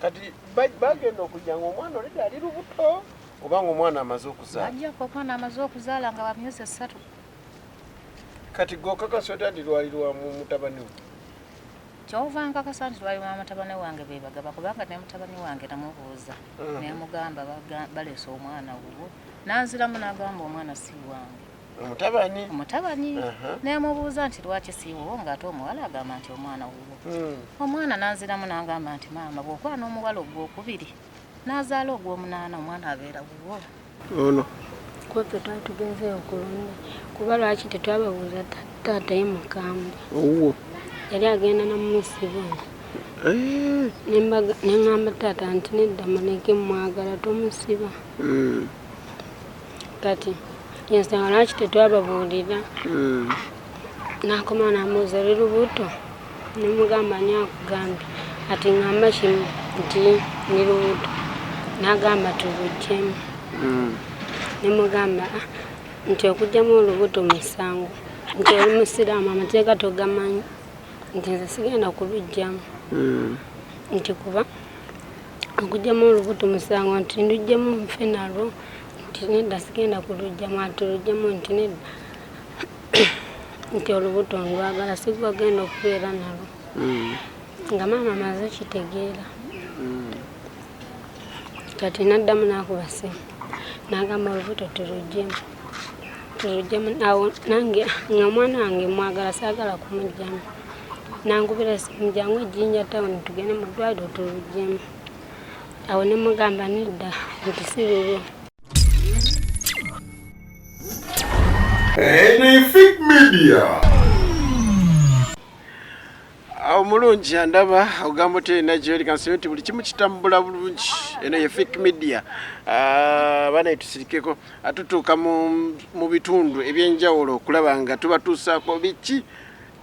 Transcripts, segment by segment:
kati bagenda okujja nga omwana olede ali lubuto oba nga omwana amaze okuzaala ajja ku omwana amaze okuzaala nga wamyezi esatu kati gokakasa otya nti lwali lwa mutabani we kyova nkakasa nti lwali lwa mutabani wange bebagaba kubanga ne mutabani wange namubuuza mm. nemugamba baleese omwana wuwo nanziramu nagamba omwana si wange omutabani omutabani nemubuuza nti lwaki siiwuwo ngaate omuwala agamba nti omwana wuwo hmm. omwana nanziramu nangamba nti maama bwokuba n'omuwala ogwokubiri nazaala ogwomunaana omwana abeera wuwo ono kweffe twali tugenzeyo kulunna kuba lwaki tetwababuuza taataye mukambwe owuwo yali agenda namumusibona eh. nengamba taata nti nedda muleke mwagala tomusiba hmm. kati yensanga lwaki tetwababuulira hmm. nakoma namuuza oli lubuto nemugamba ani akugambye ati ngamba kimu nti ndi lubuto nagamba tubujjemu hmm. nemugamba ah, nti okujjamu olubuto musango nti oli musiraamu amateeka togamanyi nti nze sigenda kubijjamu hmm. nti kuba okujjamu olubuto musango nti ndujjemu nfe nalwo nti nedda sigenda kulujjamu ati lujjamu nti nedda nti olubuto ndwagala sigwa genda okubeera nalo mm. nga maama maze kitegeera mm. kati naddamu nakuba simu nagamba olubuto tulujjemu tulujjemu awo nange nga omwana wange mwagala saagala kumujjamu nangubira simu jangu ejjinja tawuni tugende mu ddwaliro tulujjemu awo ne mugamba nedda nti si bibyo Anything media. omulungi andaba ogamba oterina gyoli kansibe nti buli kimu kitambula bulungi eno ye fik media ah, abaana etusirikeko atutuuka mu bitundu ebyenjawulo okulaba nga tubatuusaako biki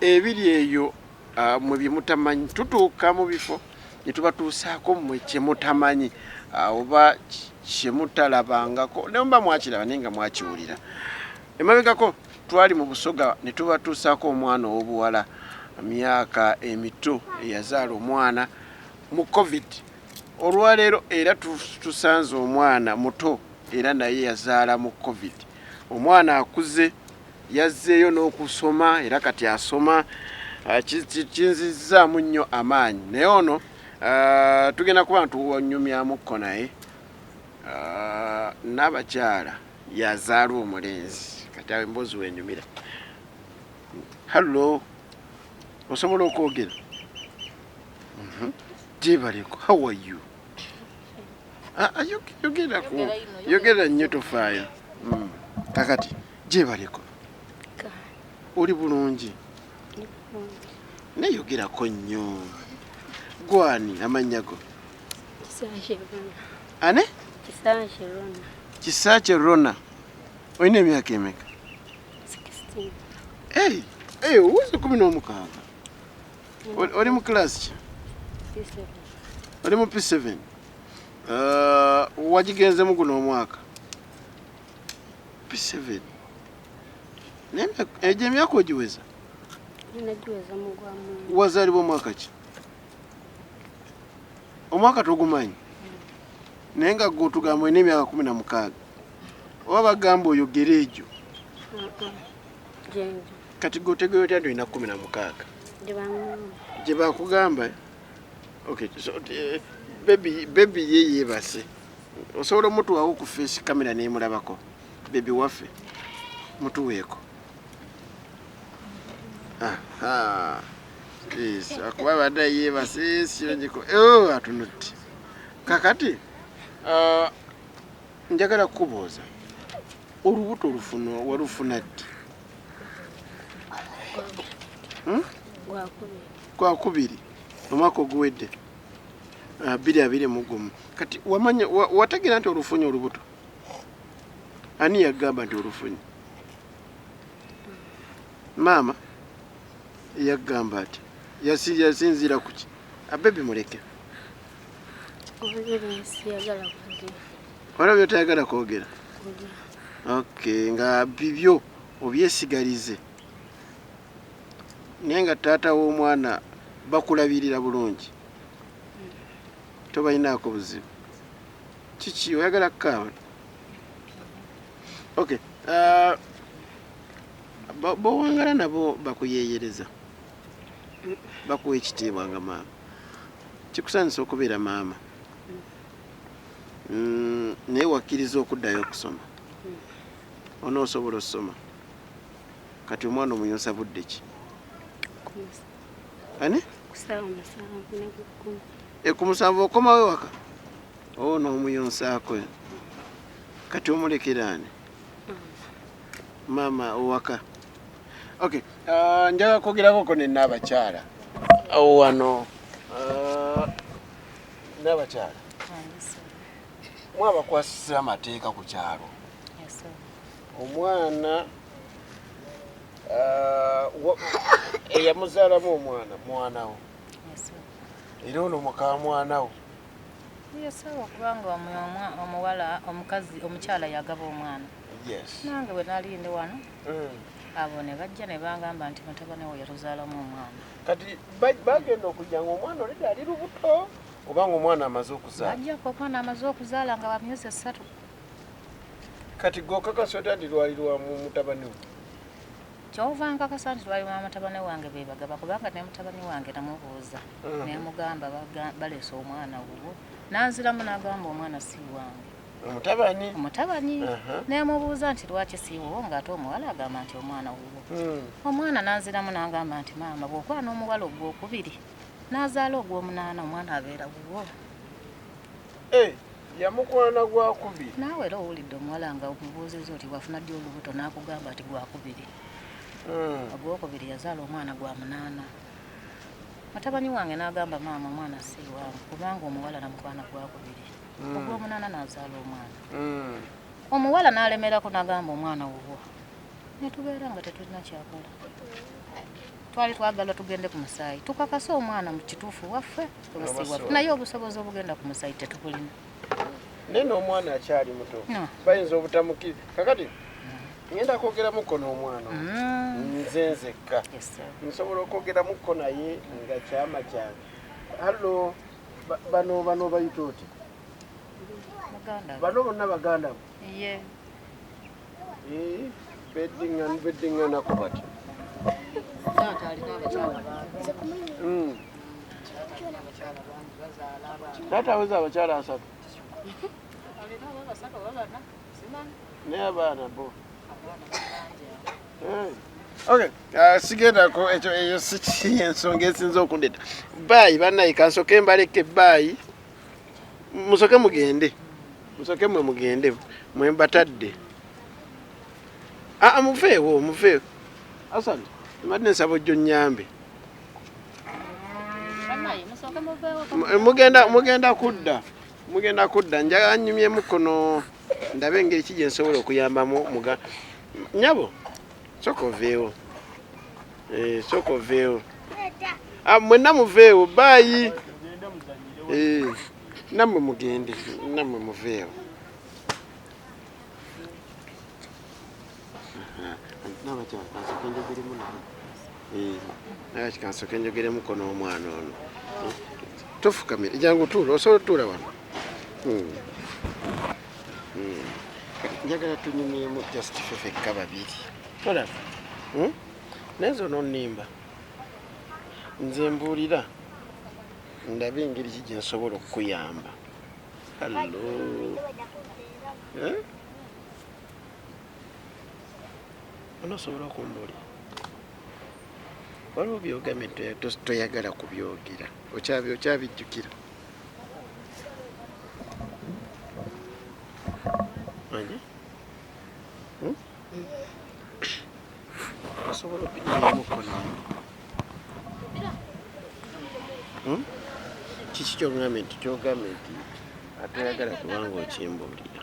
ebiri eyo ah, mwe byemutamanyi tutuuka mu bifo ne tubatuusaako mmwe kye mutamanyi oba kye mutalabangako ne muba mwakiraba naye nga mwakiwulira emabegako twali mu busoga ne tubatuusaako omwana ow'obuwala myaka emito eyazaala omwana mu covid olwaleero era tusanze omwana muto era naye yazaala mu covid omwana akuze Yazzeeyo n'okusoma era kati asoma ah, kinzizzaamu nnyo amaanyi naye ono ah, tugenda kuba ntuwanyumyamukko naye ah, n'abakyala yazaala omulenzi kati awo emboozi wenyumira hallo osobola okwogera mhm. jebaleko how are you ah, yogera nnyo tofaayo mm. kakati mm. gyebaleko oli bulungi neyogerako nnyo gwani amannya go ane kisakye rona olina emyaka emeka owuzi kumi n'omukaaga oli mu kilasi ki oli mu p7 uh, wagigenzemu guno omwaka P7. Nenda eje myaka ojiweza? Ninajiweza Mungu wa Mungu. Wazaliwa mwaka ki? Omwaka togumanyi. Naye nga gwe otugamba olina emyaka kumi na mukaaga oba bagamba oyogere egyo kati gwe otegeera otya nti olina kumi na mukaaga gye bakugamba eh? okay so, uh, baby, baby ye yeebase osobola omutuwawo ku face camera nemulabako bebi waffe mutuweeko akuba abadde yebase siongiko oh, atunutti kakati uh, njagala kukubuuza olubuto olufuna walufuna ddi hmm? gwakubiri omwaka oguwedde abiri abiri mu gumu kati wamanya wategeera nti olufunye olubuto ani yagamba nti olufunye maama yagamba ati yasinziira kuki abebi muleke wala byotayagala kwogera ok nga bibyo obyesigalize naye nga taata womwana bakulabirira bulungi tobalinaako buzibu kiki oyagala kukaaba ok uh, bowangala nabo bakuyeyereza bakuwa ekitiibwa nga maama kikusanisa okubeera maama mm, naye wakkiriza okuddayo okusoma onoosobola okusoma Kati omwana omuyonsa budde ki? Ani? E, ku musanvu okomawo ewaka oo oh, n'omuyonsaako kati omulekera ani maama owaka ok ah, njaga kwogerakoko ne naabakyala awo wano ah, naabakyala mwabakwasisa amateeka ku kyalo omwana uh, eyamuzaalamu omwana mwanawo era ono mukamwanawo yesawa kubanga omuwala omukazi omukyala yagaba omwana nange bwe nali ndi wano mm. abo ne bajja ne bangamba nti mutabani wo yatuzaalamu omwana kati bagenda okujja nga omwana olida ali lubuto oba nga omwana amaze okuzaala bajja ku omwana amaze okuzaala nga bamyezi esatu kati gwe okakasa otya nti lwali lwa mu- mutabani we kyova nkakasa nti lwali lwa mutabani wange bebagaba kubanga ne mutabani wange namubuuza Mhm. nemugamba baga- baleese omwana wuwo nanziramu nagamba omwana si wange omutabani omutabani Aha. nemubuuza nti lwaki si wuwo ngaate omuwala agamba nti omwana wuwo Mm. omwana nanziramu nagamba nti maama bwokwana omuwala ogwokubiri nazaala ogwomunaana omwana abeera wuwo Eh, yamukwana gwakubiri naawe era owulidde omuwala nga omubuuziza oti wafuna ddi olubuto n'akugamba ati gwakubiri hmm. ogwokubiri yazaala omwana gwa munaana mutabani wange n'agamba maama omwana si wange kubanga omuwala namukwana gwakubiri hmm. ogwomunaana n'azaala omwana hmm. omuwala n'alemerako n'agamba omwana wubwo netubeera nga tetulina kyakola twali twagala tugende ku musaayi tukakase omwana mu kituufu waffe naye obusobozi obugenda ku musayi tetubulina naye n'omwana akyali muto bayinza obutamukiri kakati ngenda kwogeramuko n'omwana mm. nze nzekka nsobola okwogeramuko naye nga kyama kyange hallo bano bano bayita oti bano bonna baganda bo Ye. Eh, beddinga beddinga nako bati. Taata alina abakyala bangi. Mm. Taata aweza abakyala asatu. Alina abasatu oba bana? Simanyi. Naye abaana bo. Abaana bangi. Eh. Okay, uh, sigendako ekyo eyo si ensonga esinza okundeta. Bye banaye kansoke mbaleke bye. musoke mugende musoke mwe mugende mwe mbatadde aa muveewo muveewo asan mbadde nsaba ojjo nyambe mugenda mugenda kudda mugenda kudda njaga nyumyemu kono ndabe engeri ki gyensobola okuyambamu muga nyabo soka oveewo Eh, soka oveewo ah, mwenna muveewo baayi eh, nammwe mugende nammwe muveewo eh, kikansoka enjogeremuko n'omwana ono tofukamira jangu tuula osobola otuula wano hmm. Hmm. njagala tunyumyemu just fefekka babiri tolaba hmm? naye nze ononimba nze mbuulira ndabe engeri ki gyensobola okukuyamba hallo eh? onosobola okumbuulira waliwo byogamye toyagala kubyogera okyabijjukira Asobola okujjamu kono. Hmm? Kiki kyogambye nti kyogambye nti atayagala kubanga okimbuulira.